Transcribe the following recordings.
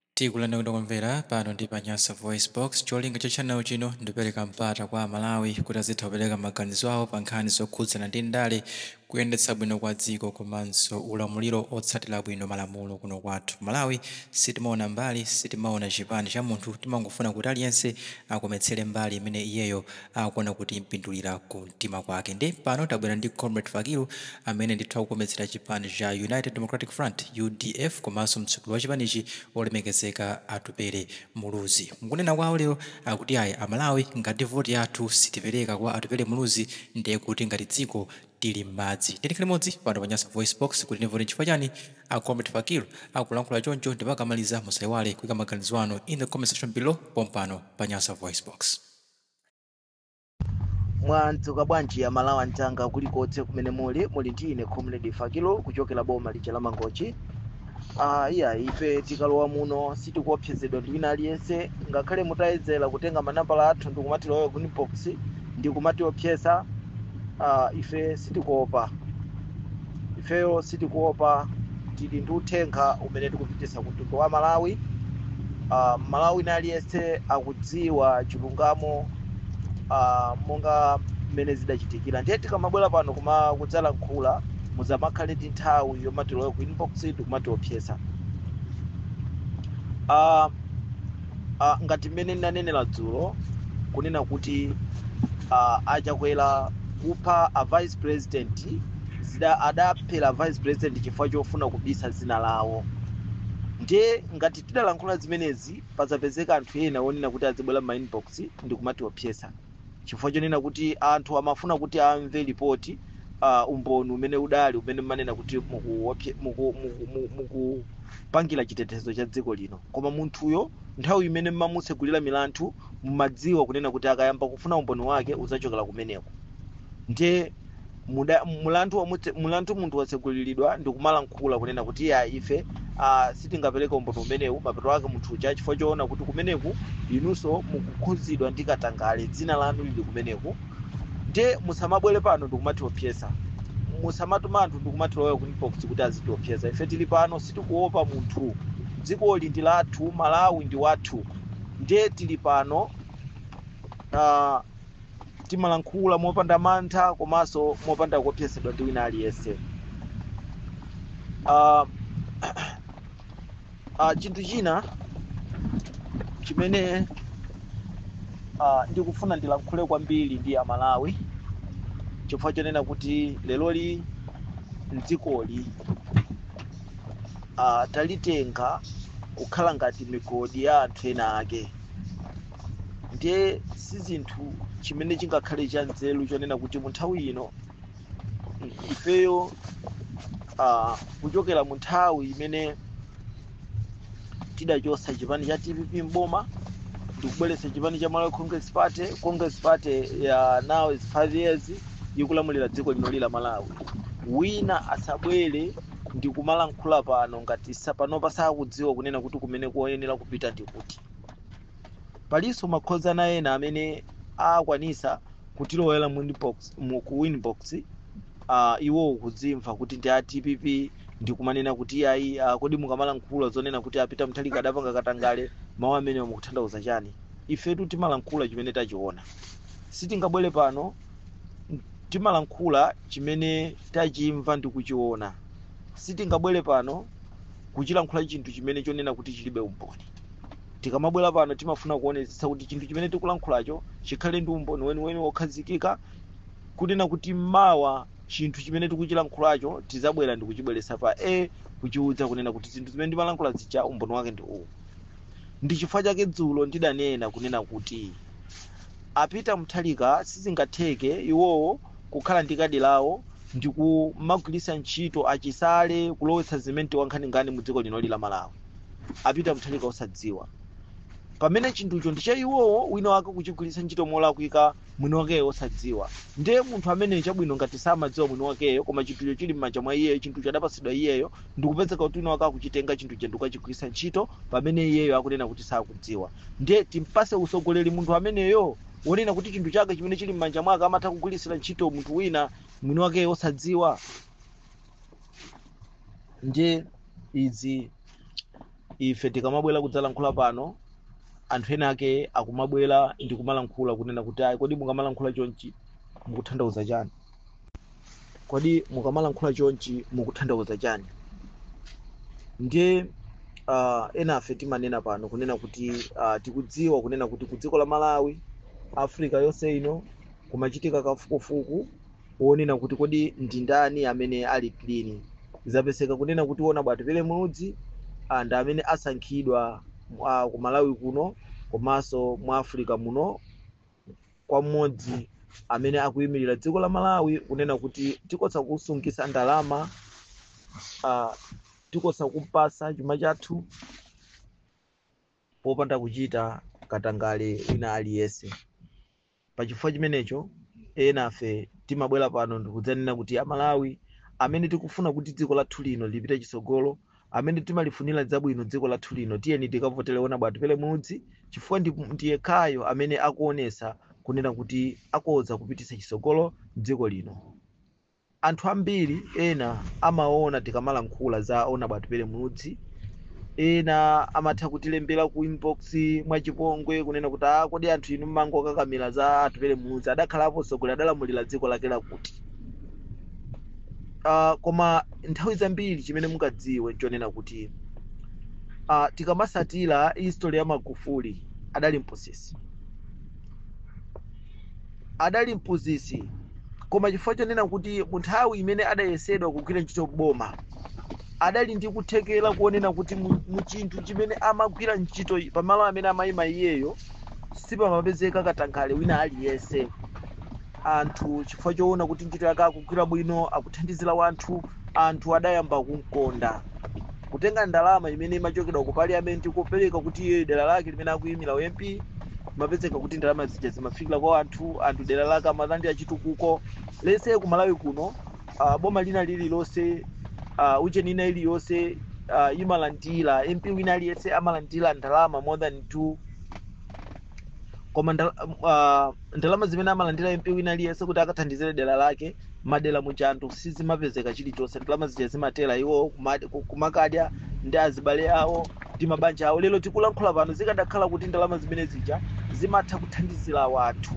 Tikulandilani okondedwa omvera, pano ndi pa Nyasa VoiceBox. Cholinga cha channel chino ndikupereka mpata kwa Amalawi kuti azitha kupereka maganizo awo pa nkhani zokhudzana ndi ndale, kuyendetsa bwino kwa dziko komanso ulamuliro otsatira bwino malamulo kuno kwathu Malawi. Sitimaona mbali, sitimaona chipani cha munthu, timangofuna kuti aliyense akometsere mbali imene iyeyo akuona kuti impindulira ku mtima kwake nde pano tabwera ndi comrade fakilu amene ndithu akukometsera chipani cha united democratic front udf komanso mtsogoleri wa chipanichi olemekezeka atupele muluzi mukunena kwawo lero akuti ayi amalawi ngati voti yathu sitipereka kwa atupele muluzi ndiye kuti ngati dziko tili m'madzi tiyeni limodzi pano pa nyasa voice box kuti timve kuti nchifukwa chani a comrade fakilu akulankhula choncho ndipo akamaliza musaiwale kuika maganizo anu in the comment section below pompano pa nyasa voice box mwadzuka bwanji amalawi anzanga kulikonse kumene muli muli ndi ine comrade fakilu kuchokera boma lija la mangochi ah, iyayi ife tikalowa muno sitikuopsezedwa ndi wina aliyense ngakhale mutayedzera kutenga manambala athu ndikumatilowa ku inbox ndikumatiopseza ah, ife sitikuopa ifeyo sitikuopa tili ndi uthenga umene tikupititsa ku mtundu wa malawi uh, mmalawi wina aliyense akudziwa chilungamo uh, monga mmene zidachitikira ndiye tikamabwera pano kumadzalankhula musamakhale ndi nthawi yomatilowa ku inbox ndikumatiopseza uh, uh, ngati mmene ndinanenera dzulo kunena kuti uh, achakwera kupha a vice president ada- adaphera vice president chifukwa chofuna kubisa dzina lawo ndiye ngati tidalankhula zimenezi pasapezeke anthu ena onena kuti azibwera m'ma inbox ndi kumatiopseza chifukwa chonena kuti anthu amafuna kuti amve lipoti, uh, umboni umene udali umene mmanena kuti mukuwopse- muku- muku- mu- mukupangira chitetezo cha dziko lino koma munthuyo nthawi imene mmamutsegulira milandu mumadziwa kunena kuti akayamba kufuna umboni wake udzachokera kumeneko ndiye muda- mulandu wamutse- mulandu munthu watseguliridwa ndi kumalankhula kunena kuti iyayi ife ah, sitingapereke umboni umenewu mapeto ake munthu uja chifukwa choona kuti kumeneku inunso mukukhudzidwa ndi katangale dzina lanu lili kumeneku ndiye musamabwere pano ndikumatiopseza musamatuma anthu ndikumatilowa ku inbox kuti azitiopseza ife tili pano sitikuopa munthu dzikoli ndi lathu malawi ndi wathu ndiye tili pano ah, timalankhula mopanda mantha komanso mopanda kuopsezedwa ndi wina aliyense uh, uh, chinthu china chimene uh, ndikufuna ndilankhule kwambiri ndi amalawi chifukwa chonena kuti leroli mdzikoli uh, talitenga kukhala ngati migodi ya anthu ena ake ndiye si zinthu chimene chingakhale cha nzeru chonena kuti mu nthawi ino i- ifeyo ah, kuchokera mu nthawi imene tidachotsa chipani cha dpp mboma ndikubweretsa chipani cha malawi congress pa congress party ya now is five years ikulamulira dziko linoli la malawi wina asabwere ndikumalankhula pano ngati panopa sakudziwa kunena kuti kumene koyenera kupita ndikuti palinso makosana ena amene akwanisa kutilowera mu inbox- mu- ku inbox uh, iwo akudzimva kuti ndi a dpp ndikumanena kuti ayi uh, kodi mukamalankhula zonena kuti a peter mutharika adapanga katangale mawu amenewo mukutanthauza chani ifetu timalankhula chimene tachiona sitingabwere pano timalankhula chimene tachimva ndi kuchiona sitingabwere pano kuchilankhula chinthu chimene chonena kuti chilibe umboni tikamabwera pano timafuna kuonetsetsa kuti chinthu chimene tikulankhulacho chikhale ndi umboni weniweni wokhazikika kunena kuti mawa chinthu chimene tikuchilankhulacho tizabwera ndi kuchibweretsa pa a kuchiuza kunena kuti zinthu zimene ndimalankhula zija umboni wake ndi uwu ndi chifukwa chake dzulo ndidanena kunena kuti a peter mutharika sizingatheke iwowo kukhala ndi kadi lawo ndi kumagwiritsa ntchito a chisale kulowetsa simenti wankhaninkhani mu dziko linoli la malawi a peter mutharika osadziwa pamene chinthucho ndi cha iwowo wina wake kuchigwiritsa ntchito molakwika mwini wakeyo osadziwa ndiye munthu ameneyo chabwino ngati samadziwa mwini wakeyo koma chinthucho chili m'manja mwa iyeyo chinthucho adapatsidwa iyeyo ndikupezeka kuti wina wake akuchitenga chinthucho ndikukachigwiritsa ntchito pamene iyeyo akunena kuti sakudziwa ndiye timpase usogoleri munthu ameneyo wonena kuti chinthu chake chimene chili m'manja mwake amatha kugwiritsira ntchito munthu wina mwini wakeyo osadziwa ndiye izi ife tikamabwera kudzalankhula pano anthu ena ake akumabwera ndi kumalankhula kunena kuti ayi kodi mukamalankhula chonchi mukuthandauza chani kodi mukamalankhula chonchi mukuthandauza chani ndiye uh, enafe timanena pano kunena kuti uh, tikudziwa kunena kuti ku dziko la malawi africa yonse ino kumachitika kafukufuku wonena kuti kodi ndi ndani amene ali clean zapezeka kunena kuti wonaba Atupele Muluzi ah, ndi amene asankhidwa ah, ku malawi kuno komanso mu africa muno kwa mmodzi amene akuyimirira dziko la malawi kunena kuti tikoza kusungitsa ndalama ah, tikoza kumpatsa chuma chathu popanda kuchita katangale wina aliyense pa chifukwa chimenecho enafe timabwera pano ndikudzanena kuti amalawi amene tikufuna kuti dziko lathu lino lipite chitsogolo amene timalifunira zabwino dziko lathu lino tiyeni tikavotele onaba Atupele Muluzi chifukwa ndi yekhayo amene akuonesa kunena kuti akoza kupititsa chitsogolo dziko lino Anthu ambiri ena amaona tikamalankhula za Onaba Atupele Muluzi, ena amatha kutilembera ku inbox mwachipongwe kunena kuti ah kodi anthu inu mmangokakamira za Atupele Muluzi adakhalapo mtsogoleri adalamulira dziko lake lakuti. Ah, koma nthawi zambiri chimene mungadziwe nchonena kuti ah, tikamatsatira history ya Magufuli adali mphunzitsi adali mphunzitsi koma chifukwa chonena kuti munthawi imene adayesedwa kugwira ntchito m'boma adali ndi kuthekera kuonena kuti mu- muchinthu chimene amagwira ntchito i- pamalo amene amayima iyeyo sipamapezeka katangale wina aliyense anthu chifukwa choona kuti ntchito yake akugwira bwino akuthandizira wanthu anthu adayamba kumkonda kutenga ndalama imene imachokera ku parliament kupereka kuti iye dera lake limene akuyimira u mp kumapezeka kuti ndalama zija zimafikira kwa anthu anthu dera lake amalandira chitukuko lero ku malawi kuno uh, boma lina lililonse uh, ujeni ina iliyonse uh, imalandira mp wina aliyense amalandira ndalama more than 2 koma ndal- uh, ndalama zimene amalandira mp wina aliyense kuti akathandizire dera lake madela muja anthu sizimapezeka chilichonse ndalama zija zimathera iwo kumad- ku- kumakadya ndi azibale awo ndi mabanja awo lero tikulankhula pano zikadakhala kuti ndalama zimene zija zimatha kuthandizira wanthu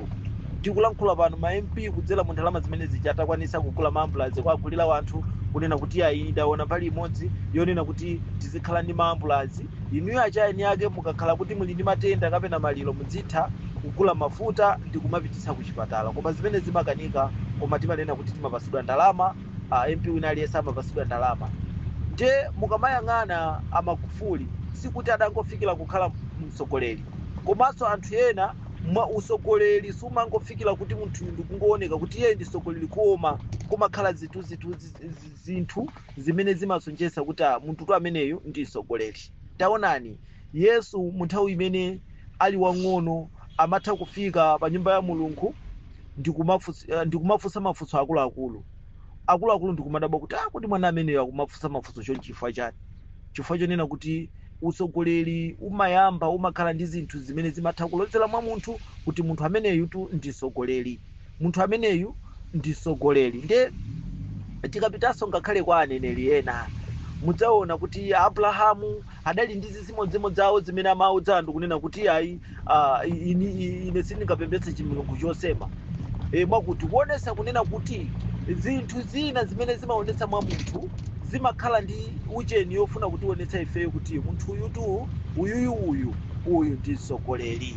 tikulankhula pano ma mp kudzera mu ndalama zimene zija atakwanitsa kugula maambulazi kuwagulira wanthu kunena kuti ayi ndaona mbali imodzi yonena kuti tizikhala ndi maambulazi inuyo achayeni ake mukakhala kuti muli ndi matenda kapena maliro mudzitha kugula mafuta ndikumapititsa kuchipatala koma zimene zimakanika koma timanena kuti timapatsidwa ndalama uh, mp wina aliyense amapatsidwa ndalama nde mukamayang'ana amagufuli sikuti adangofikira kukhala mtsogoleri komanso anthu ena mwa utsogoleri sumangofikira kuti munthu ndikungooneka kuti iye ndi mtsogoleri koma kumakhala zinthu zinthu zimene zimasonyeza kuti ah, munthutu ameneyu ndi mtsogoleri taonani Yesu mu nthawi imene ali wang'ono amatha kufika pa nyumba ya Mulungu ndikumafunsa mafunso akuluakulu akuluakulu ndikumadabwa kuti ah, kodi mwana ameneyu akumafunsa mafunso chonchi chifukwa chani? Chifukwa chonena kuti utsogoleri umayamba umakhala ndi zinthu zimene zimatha kulozera mwa munthu kuti munthu ameneyutu ndi mtsogoleri. Munthu ameneyu ndi mtsogoleri nde tikapitanso ngakhale kwa aneneri ena mudzaona kuti Abrahamu adali ndi zimodzimodzi zawo zimene amaudza anthu kunena kuti ayi ah, ini, ine sindingapembedze chimilungu chosema e, mwakuti kuonesa kunena kuti zinthu zina zimene zimaonetsa mwa munthu zimakhala ndi ucheni yofuna kutionetsa ifeyo kuti munthu uyutu uyuyu uyu uyu ndi mtsogoleri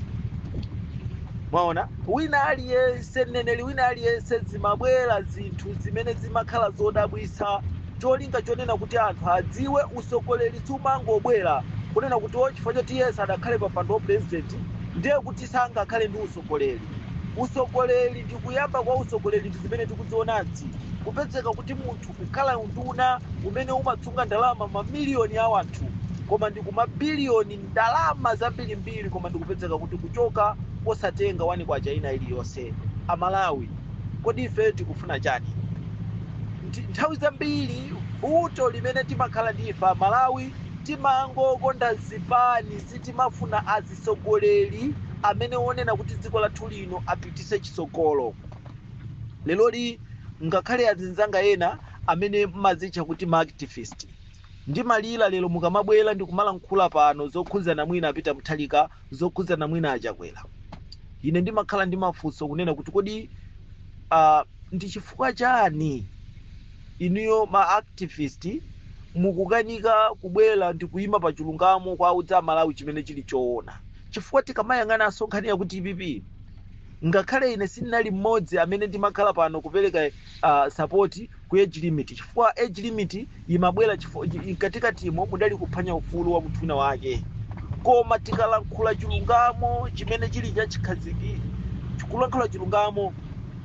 mwaona wina aliyense mneneri wina aliyense zimabwera zinthu zimene zimakhala zodabwitsa cholinga chonena kuti anthu adziwe usogoleri sumangobwera kunena kuti o chifukwa choti yesu sadakhale pa mpando wa purezidenti ndiye kuti sangakhale ndi usogoleri usogoleri ndi kuyamba kwa usogoleri ndi zimene tikuzionazi kupezeka kuti munthu kukhala unduna umene umasunga ndalama mamiliyoni a wanthu koma ndi kumabiliyoni ndalama zambirimbiri koma ndikupezeka kuti kuchoka osatenga K1 ina iliyonse. A Malawi kodi ife tikufuna chani? Nthawi zambiri vuto limene timakhala ndi ife a Malawi timangokonda zipani sitimafuna azitsogoleri amene onena kuti dziko lathu lino apitise chitsogolo. Leroli ngakhale azinzanga ena amene mmazitcha kuti ma activist Ndimalira lero mukamabwera ndikumalankhula pano zokhudzana mwina a Peter Mutharika, zokhudzana mwina a Chakwera. Ine ndimakhala ndi mafunso kunena kuti kodi a ndi chifukwa chani inuyo ma activist mukukanika kubwera ndikuyima pa chilungamo kuwauza a Malawi chimene chili choona. Chifukwa tikamayang'ananso nkhani ya ku dpp ngakhale ine sindinali mmodzi amene ndimakhala pano kupereka support ku age limit chifukwa age limit imabwera chifukwa chi- mkatikatimo mudali kuphwanya ufulu wa munthu wina wake koma tikalankhula chilungamo chimene chili cha chikhaziki tikulankhula chilungamo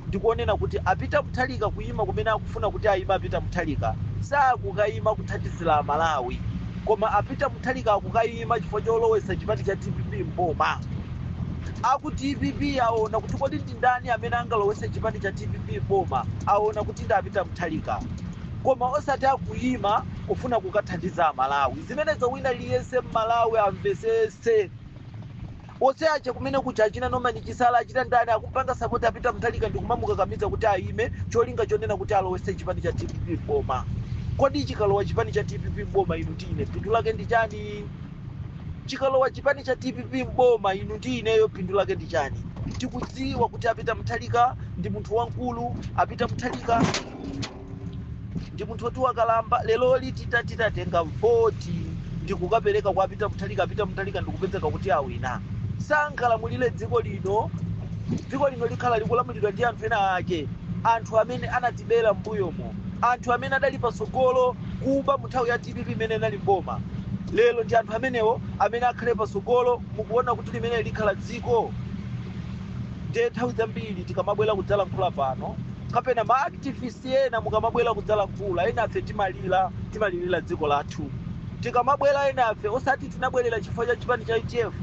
ndikonena kuti a Peter Mutharika kuyima kumene akufuna kuti ayima a Peter Mutharika sakukayima kuthandiza amalawi koma a Peter Mutharika akukayima chifukwa cholowesa chipani cha dpp mboma aku dpp aona kuti kodi ndi ndani amene angalowese chipani cha dpp m'boma awona kuti ndi a Peter Mutharika koma osati akuyima kufuna kukathandiza amalawi zimenezo wina liyense mmalawi amvesese onse aja kumene kuja achina Norman Chisale achina ndani akupanga sapoti a Peter Mutharika ndikumamukakamiza kuti ayime cholinga chonena kuti alowese chipani cha dpp m'boma kodi chikalowa chipani cha dpp m'boma inu ndi ine phindu lake ndi chani chikalowa chipani cha dpp m'boma inu ndi ineyo phindu lake ndi chani tikudziwa kuti a Peter Mutharika ndi munthu wamkulu a Peter Mutharika ndi munthu woti wakalamba leroli tita titatenga voti ndikukapereka kwa a Peter Mutharika a Peter Mutharika ndikupezeka kuti awina sangalamulire dziko lino dziko lino likhala likulamulidwa ndi anthu ena ake anthu amene anatibera mbuyomo anthu amene adali patsogolo kuba mu nthawi ya dpp imene inali mboma lero ndi anthu amenewo amene akhale patsogolo mukuona kuti limeneli likhala dziko nde nthawi zambiri tikamabwera kudzalankhula pano kapena ma activist ena mukamabwera kudzalankhula enafe timalira timalirira dziko lathu tikamabwera enafe osati tinabwerera chifukwa cha chipani cha utf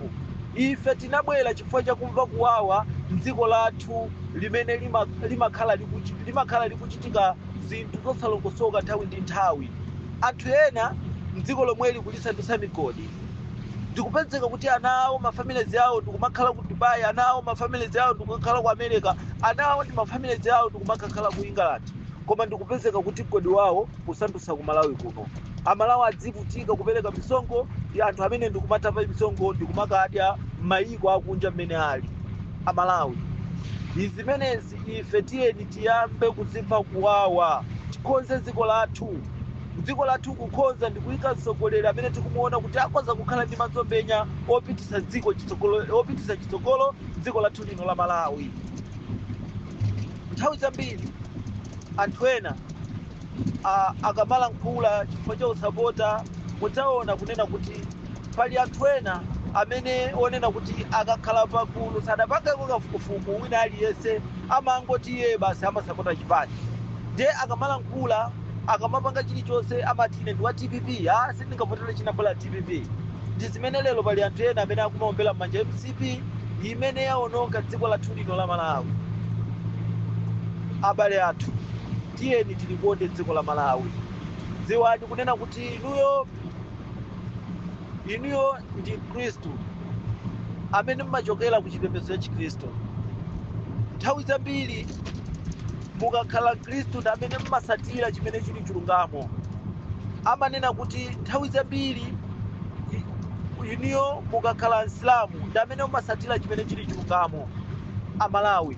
ife tinabwera chifukwa cha kumva kuwawa dziko lathu limene lima- limakhala likuchi- limakhala likuchitika zinthu zosalongosoka nthawi ndi nthawi. Anthu ena m'dziko lomweli kulisandutsa migodi. Ndikupezeka kuti ana awo, mafamilies awo ndikumakhala ku Dubai, ana awo, mafamilies awo ndikumakhala ku America, ana awo ndi mafamilies awo ndikumakakhala ku England. Koma ndikupezeka kuti mgodi wawo kusandutsa ku Malawi kuno. Amalawi adzivutika kupereka misonkho ndi anthu amene ndikumatapa misonkho ndikumakadya m'mayiko akunja mmene ali. Amalawi. Izi zimenezi ife tiyeni tiyambe kudzimva kuwawa tikonze dziko lathu dziko lathu kukonza ndi kuyika mtsogoleri amene tikumuona kuti akhoza kukhala ndi masomphenya opititsa dziko chitsogolo opititsa chitsogolo dziko lathu lino la malawi nthawi zambiri anthu ena ah, akamalankhula chifukwa cha usapota mudzaona kunena kuti pali anthu ena amene onena kuti akakhala pagulu sadapangako kafukufuku wina aliyense amangoti iye basi amasapota chipani ndiye akamalankhula akamapanga chilichonse amati ine ndi wa dpp a sindingavotera china bola dpp ndi zimene lero pali anthu ena amene akumaombera m'manja mcp imene yaononga dziko lathu lino la malawi abale athu tiyeni tilikonde dziko la malawi dziwani kunena kuti inuyo inuyo ndi mkhristu amene mmachokera ku chipembedzo cha chikhristu nthawi zambiri mukakhala mkhristu ndi amene mmasatira chimene chili chilungamo amanena kuti nthawi zambiri i- inuyo mukakhala msilamu ndi amene mmasatira chimene chili chilungamo amalawi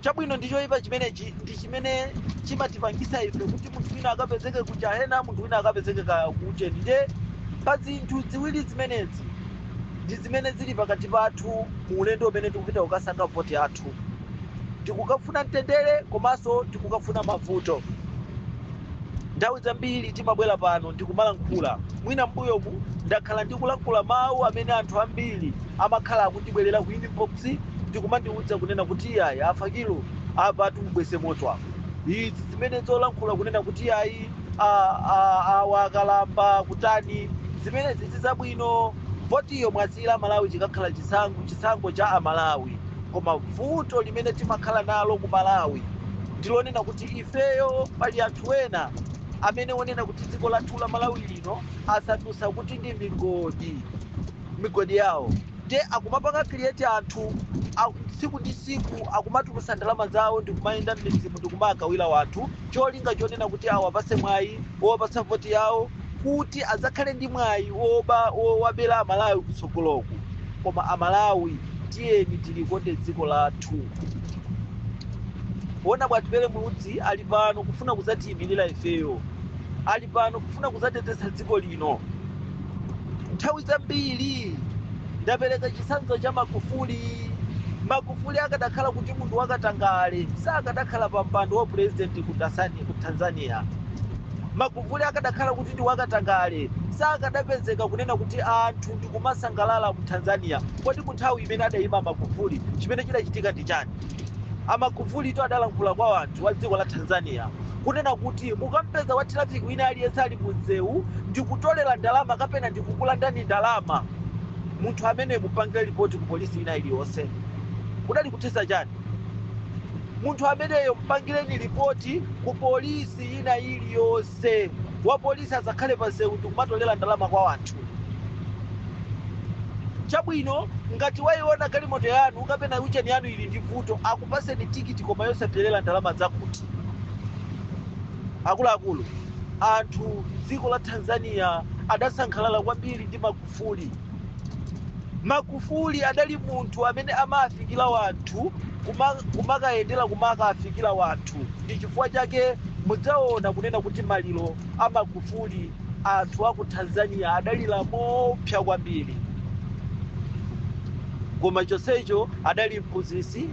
chabwino ndi choyipa chimenechi ndi chimene chimatipangisa ife kuti munthu wina akapezeke ku jahena munthu wina akapezeke kaku ujeni nde pa zinthu ziwiri zimenezi ndi zimene zili pakati pathu mu ulendo umene tikupita kukasankha voti yathu tikukafuna mtendere komanso tikukafuna mavuto nthawi zambiri timabwera pano ndikumalankhula mwina mbuyomu ndakhala ndikulankhula mawu amene anthu ambiri amakhala akundibwerera ku in madzi ndi kumandiudza kunena kuti iyayi afakilu apa tiubweze moto apo izi zimene zolankhula kunena kuti iyayi a- a- awa akalamba kutani zimene sizi zabwino votiyo mwasiyira amalawi chikakhala chisankho chisankho cha amalawi koma vuto limene timakhala nalo ku malawi ndilonena kuti ifeyo pali anthu ena amene onena kuti dziko lathu la malawi lino asandutsa kuti ndi migodi migodi yawo nde akumapanga create anthu a- tsiku ndi tsiku akumatulusa ndalama zawo ndikumayenda mmidzimu ndikumaagawira wanthu cholinga chonena kuti awapase mwayi wowapasa voti yawo kuti adzakhale ndi mwayi woba wowabera amalawi kutsogoloku koma amalawi tiyeni tilikonde dziko lathu ona bwa atupele muluzi ali pano kufuna kudzatiyimirira ifeyo ali pano kufuna kudzateteza dziko lino lino. Nthawi zambiri ndapereka chitsanzo cha Magufuli. Magufuli akadakhala kuti munthu wakatangale sakadakhala pa mpando wa purezidenti ku Tanzania. Magufuli akadakhala kuti ndi wakatangale sakadapezeka kunena kuti anthu ndikumasangalala mu Tanzania. Kodi mu nthawi imene adayima Magufuli chimene chidachitika ndi chani? Amagufuli to adalankhula kwa anthu a dziko la Tanzania kunena kuti mukampeza wa traffic wina aliyense ali mu msewu ndikutolera ndalama kapena ndikukulandani ndalama munthu ameneyo mupangire ripoti ku polisi ina iliyonse kudali kuthetsa chani munthu ameneyo mpangireni ripoti ku polisi ina iliyonse wa polisi asakhale pa msewu ndikumatolera ndalama kwa wanthu chabwino ngati waiona galimoto yanu kapena ujeni yanu ili ndi vuto akupaseni tikiti koma yosapelera ndalama zakuti akuluakulu anthu dziko la tanzania adasangalala kwambiri ndi magufuli magufuli adali munthu amene amafikira wanthu kuma- kumakayendera kumakaafikira wanthu ndi chifukwa chake mudzaona kunena kuti maliro a magufuli anthu aku tanzania adalira mopsya kwambiri koma chonsecho adali mphunzitsi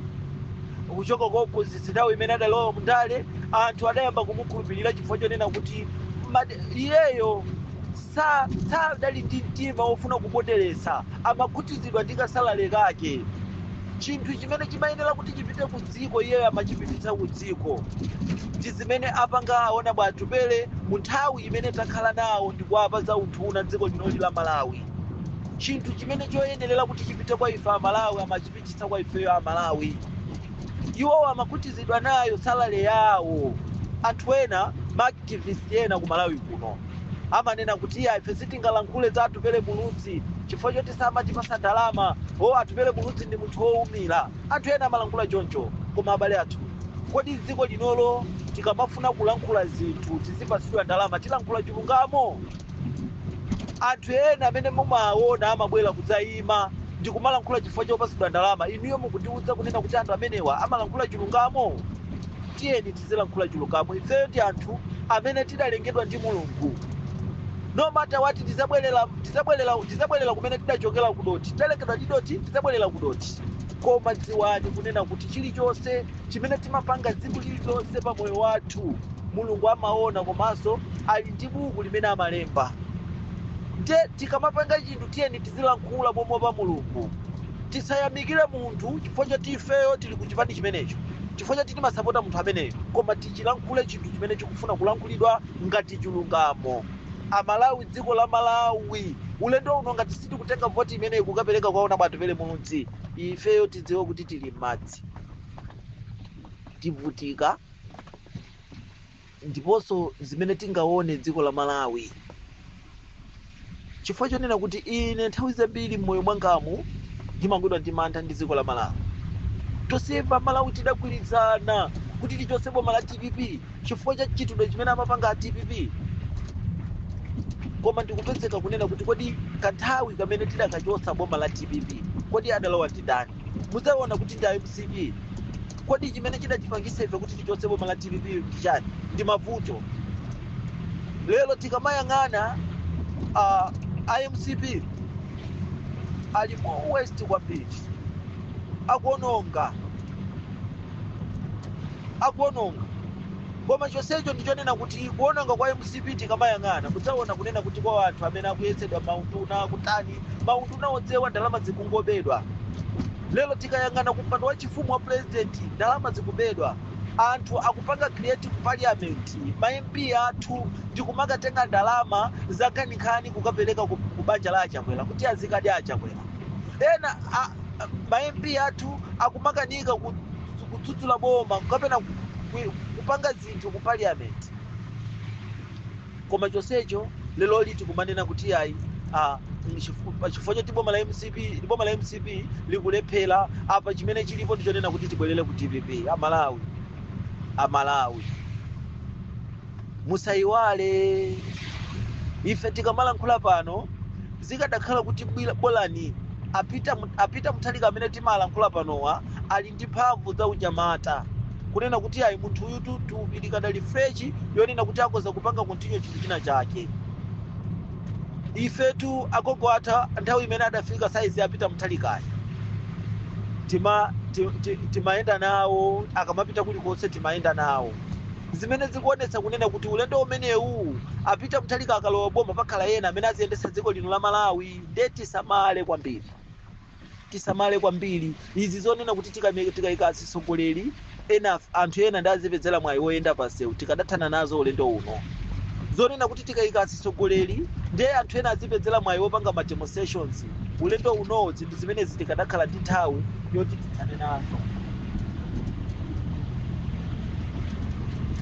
kuchoka kwa uphunzitsi nthawi imene adalowa mundale anthu adayamba kumukhulupirira chifukwa chonena kuti mad- iyeyo sa- sadali ndi mtima wofuna kupondereza amakhutitsidwa ndi kasalary kake chinthu chimene chimayenera kuti chipite ku dziko iyeyo amachipititsa ku dziko ndi zimene apanga a honourable Atupele mu nthawi imene takhala nawo ndi ku Ministry of Health dziko lino la malawi chinthu chimene choyenerera kuti chipite kwa ife amalawi amachipita chitsa kwa ifeyo amalawi iwowo amakhutizidwa nayo salary yawo anthu ena maactivist ena ku malawi kuno amanena kuti iya ife sitingalankhule za atupele muluzi chifukwa choti samatipasa ndalama o atupele muluzi ndi munthu wowumira anthu ena amalankhula choncho koma abale athu kodi dziko linolo tikamafuna kulankhula zinthu tizipasidwa ndalama tilankhule chilungamo anthu ena amene mumawaona amabwera kudzayima ndi kumalankhula chifukwa chopatsidwa ndalama inuyo mukundiwudza kunena kuti anthu amenewa amalankhula chilungamo tiyeni tizilankhula chilungamo ifeyo ndife anthu amene tidalengedwa ndi mulungu no matter what tizabwerera tidzabwerera kumene tidachokera kudoti tidalengedwa ndi doti tizabwerera kudoti koma dziwani kunena kuti chilichonse chimene timapanga tsiku lililonse pa moyo wathu mulungu amaona komanso ali ndi buku limene amalemba nde tikamapanga chinthu tiyeni tizilankhula momopa mulungu tisayamikire munthu chifukwa choti ifeyo tili ku chipani chimenecho chifukwa choti timasapota munthu ameneyo koma tichilankhule chinthu chimene chikufuna kulankhulidwa ngati chilungamo amalawi dziko la malawi ulendo uno ngati sitikutenga voti imeneyi kukapereka kwa honourable Atupele Muluzi ifeyo tidziwe kuti tili m'madzi tivutika ndiponso zimene tingaone dziko la malawi chifukwa chonena kuti ine nthawi zambiri m'moyo mwangamu ndimagwidwa ndi mantha ndi dziko la malawi tonsefe amalawi tidagwirizana kuti tichotse boma la dpp chifukwa cha mchitidwe chimene amapanga a dpp koma ndikupezeka kunena kuti kodi kanthawi kamene tidakachotsa boma la dpp kodi adalowa ndi ndani mudzaona kuti ndi a mcp kodi chimene chidatipangisa ife kuti tichotse boma la dpp ndi chani ndi mavuto lero tikamayang'ana uh, a mcp ali more worse kwambiri akuononga akuononga koma chonsecho ndichonena kuti kuononga kwa mcp tikamayang'ana mudzaona kunena kuti kwa anthu amene akuyetsetsa maunduna akutani maunduna odziwa ndalama zikungobedwa lero tikayang'ana kumpando wa chifumu wa president ndalama zikubedwa anthu akupanga create ku parliament ma mp athu ndikumakatenga ndalama zankhaninkhani kukapereka ku ku banja la achakwera kuti azikadya achakwera ena a- a- ma mp athu akumakanika ku- kudzudzula boma kapena ku- ku- kupanga zinthu ku parliament koma chonsecho leroli tikumanena kuti iyayi ah, nchifu- pa chifukwa choti boma la mcp ndi boma la mcp likulephera apa chimene chilipo ndi chonena kuti tibwerere ku dpp amalawi amalawi musayiwale ife tikamalankhula pano zikadakhala kuti bwila- bolani a Peter mu- a Peter Mutharika amene timalankhula panowa ali ndi mphamvu za unyamata kunena kuti yayi munthu uyu tu- thupi likadali fresh yonena kuti akhoza kupanga continue chinthu china chake ifetu agogo atha nthawi imene adafika saizi ya Peter Mutharikayi tima ti- ti- timayenda nawo akamapita kulikonse timayenda nawo zimene zikuonetsa kunena kuti ulendo umenewu a Peter Mutharika akalowa boma pakhala ena amene aziyendetsa dziko lino la malawi nde tisamale kwambiri tisamale kwambiri izi zonena kuti tikame- tikayika atsogoleri ena anthu ena ndi azipezera mwayi woyenda pansewu tikadathana nazo ulendo uno zonena kuti tikayika atsogoleri ndiye anthu ena azipezera mwayi wopanga ma demonstrations ulendo unowu zinthu zimenezi tikadakhala ndi nthawi yoti tithane nazo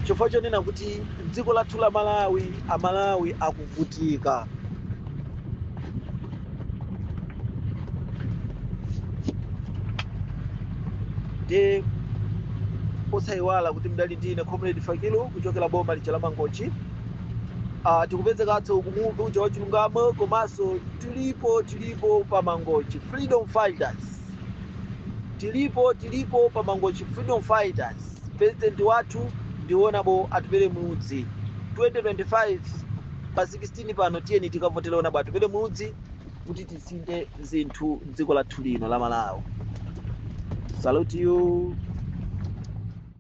chifukwa chonena kuti dziko lathu la malawi amalawi akuvutika nde osayiwala kuti ndidali ndine comrade fakilu kuchokera boma lija la mangochi uh, tikupezekanso ku Muvi uja wa chilungamo komanso tilipo tilipo pa mangochi freedom fighters tilipo tilipo pa mangochi freedom fighters president wathu ndi Honourable Atupele Muluzi 2025 pa 16 16 pano tiyeni tikavotele Honourable Atupele Muluzi kuti tisinthe zinthu dziko lathu lino la malawi salute you